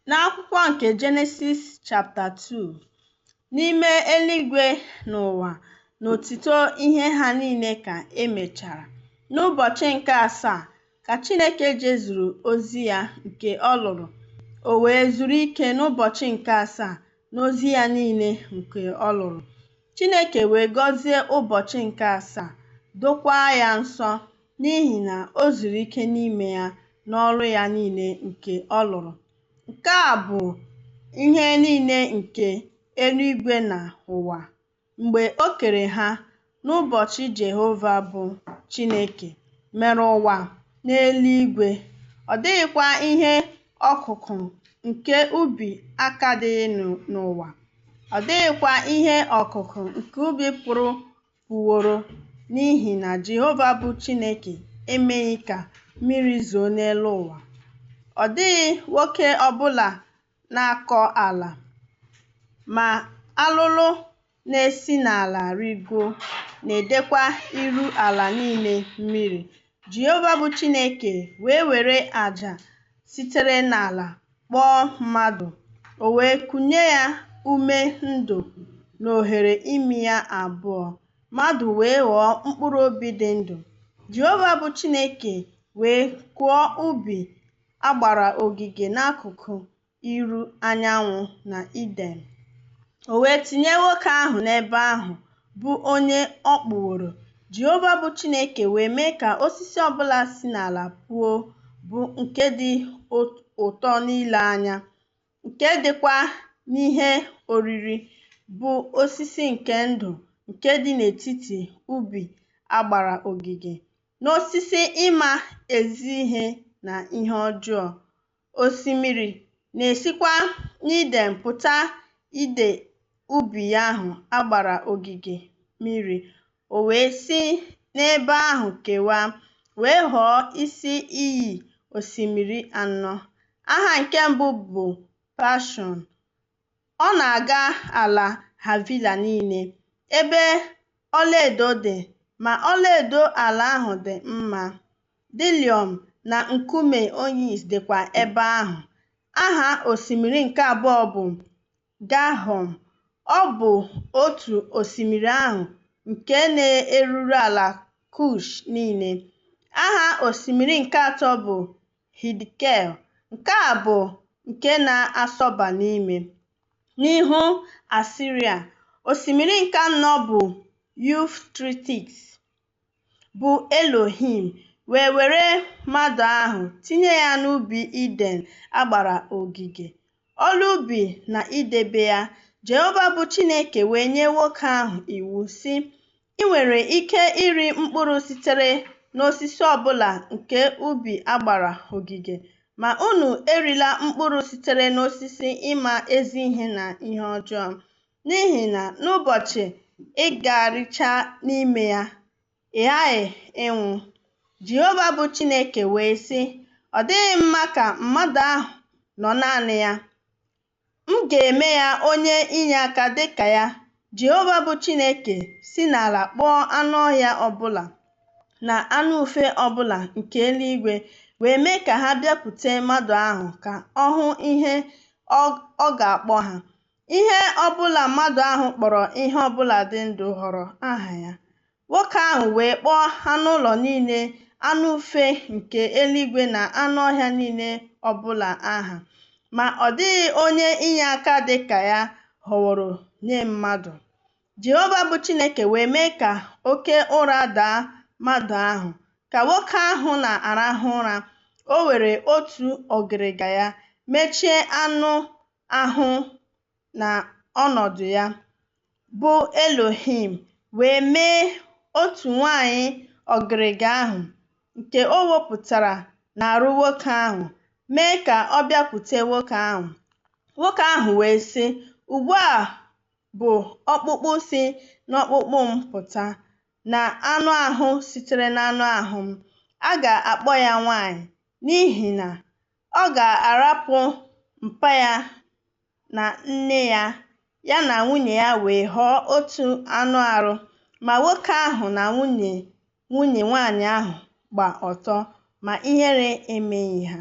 N'akwụkwọ nke Jenesis chapta 2, n'ime eluigwe na ụwa na ọtụtụ ihe ha niile ka e mechara. N'ụbọchị nke asaa ka Chineke jezuru ozi ya nke ọ lụrụ, o wee zuru ike n'ụbọchị nke asaa n'ozi ya niile nke ọ lụrụ. Chineke wee gọzie ụbọchị nke asaa, dokwaa ya nsọ, n'ihi na o zuru ike n'ime ya n'ọrụ ya niile nke ọ lụrụ. Nke a bụ ihe niile nke eluigwe na ụwa. Mgbe o kere ha n'ụbọchị Jehova bụ Chineke mere ụwa na eluigwe, ọ dịghịkwa ihe ọkụkụ nke ubi akadịghị n'ụwa, ọ dịghịkwa ihe ọkụkụ nke ubi pụrụ puworo, n'ihi na Jehova bụ Chineke emeghị ka mmiri zoo n'elu ụwa. Ọ dịghị nwoke ọ bụla na-akọ ala, ma alụlụ na-esi n'ala rịgo na-edekwa iru ala niile mmiri. Jehova bụ Chineke wee were aja sitere n'ala kpụọ mmadụ, o wee kunye ya ume ndụ n'oghere imi ya abụọ, mmadụ wee ghọọ mkpụrụ obi dị ndụ. Jehova bụ Chineke wee kụọ ubi a gbara ogige n'akụkụ iru anyanwụ n'Iden. O wee tinye nwoke ahụ n'ebe ahụ, bụ onye ọ kpụworo. Jehova bụ Chineke wee mee ka osisi ọ bụla si n'ala puo, bụ nke dị ụtọ n'ile anya, nke dịkwa n'ihe oriri, bụ osisi nke ndụ nke dị n'etiti ubi a gbara ogige, na osisi ịma ezi ihe na ihe ọjọọ. Osimiri na-esikwa n'Iden pụta ide ubi ahụ a gbara ogige mmiri, o wee si n'ebe ahụ kewaa, wee ghọọ isi iyi osimiri anọ. Aha nke mbụ bụ Paịshọn, Ọ na-aga ala Havila niile, ebe ọlaedo dị, ma ọlaedo ala ahụ dị mma. Diliọm na nkume onyis dịkwa ebe ahụ. Aha osimiri nke abụọ bụ Gaịhọn. Ọ bụ otu osimiri ahụ nke na-eruru ala Kush niile. Aha osimiri nke atọ bụ Hidkel, nke a bụ nke na-asọba n'ime, n'ihu Asiria, osimiri nke anọ bụ Yufretis, bụ Elohim, wee were mmadụ ahụ tinye ya n'ubi Iden a gbara ogige, ọrụ ubi na idebe ya. Jehova bụ Chineke wee nye nwoke ahụ iwu, sị, Ị nwere ike iri mkpụrụ sitere n'osisi ọ bụla nke ubi a gbara ogige, ma unu erila mkpụrụ sitere n'osisi ịma ezi ihe na ihe ọjọọ, n'ihi na n'ụbọchị ị ga-ericha n'ime ya, Ị ghaghị ịnwụ. Jehova bụ Chineke wee sị, Ọ dịghị mma ka mmadụ ahụ nọ naanị ya. M ga-eme ya onye inyeaka dị ka ya. Jehova bụ Chineke si n'ala kpụọ anụ ọhịa ọbụla na anụ ufe ọbụla nke eluigwe wee mee ka ha bịakwute mmadụ ahụ ka ọ hụ ihe ọ ga-akpọ ha. Ihe ọbụla mmadụ ahụ kpọrọ ihe ọbụla dị ndụ ghọrọ aha ya. Nwoke ahụ wee kpọọ anụ ụlọ niile, anụ ufe nke eluigwe na anụ ọhịa niile ọbụla aha. Ma ọ dịghị onye inye aka dị ka ya họworo nye mmadụ. Jehova bụ Chineke wee mee ka oke ụra daa mmadụ ahụ. Ka nwoke ahụ na-arahụ ụra, o were otu ọgịrịga ya mechie anụ ahụ na ọnọdụ ya, bụ Elohim, wee mee otu nwanyị ọgịrịga ahụ nke o wepụtara n'arụ nwoke ahụ, mee ka ọ bịakwute nwoke ahụ. Nwoke ahụ wee sị, Ugbu a bụ ọkpụkpụ si n'ọkpụkpụ m pụta, na anụ ahụ sitere n'anụ ahụ m. A ga-akpọ ya nwanyị, n'ihi na Ọ ga-arapụ mpa ya na nne ya, ya na nwunye ya wee ghọọ otu anụ arụ. Ma nwoke ahụ na nwunye nwunye nwaanyị ahụ gba ọtọ, ma ihere emeghị ha.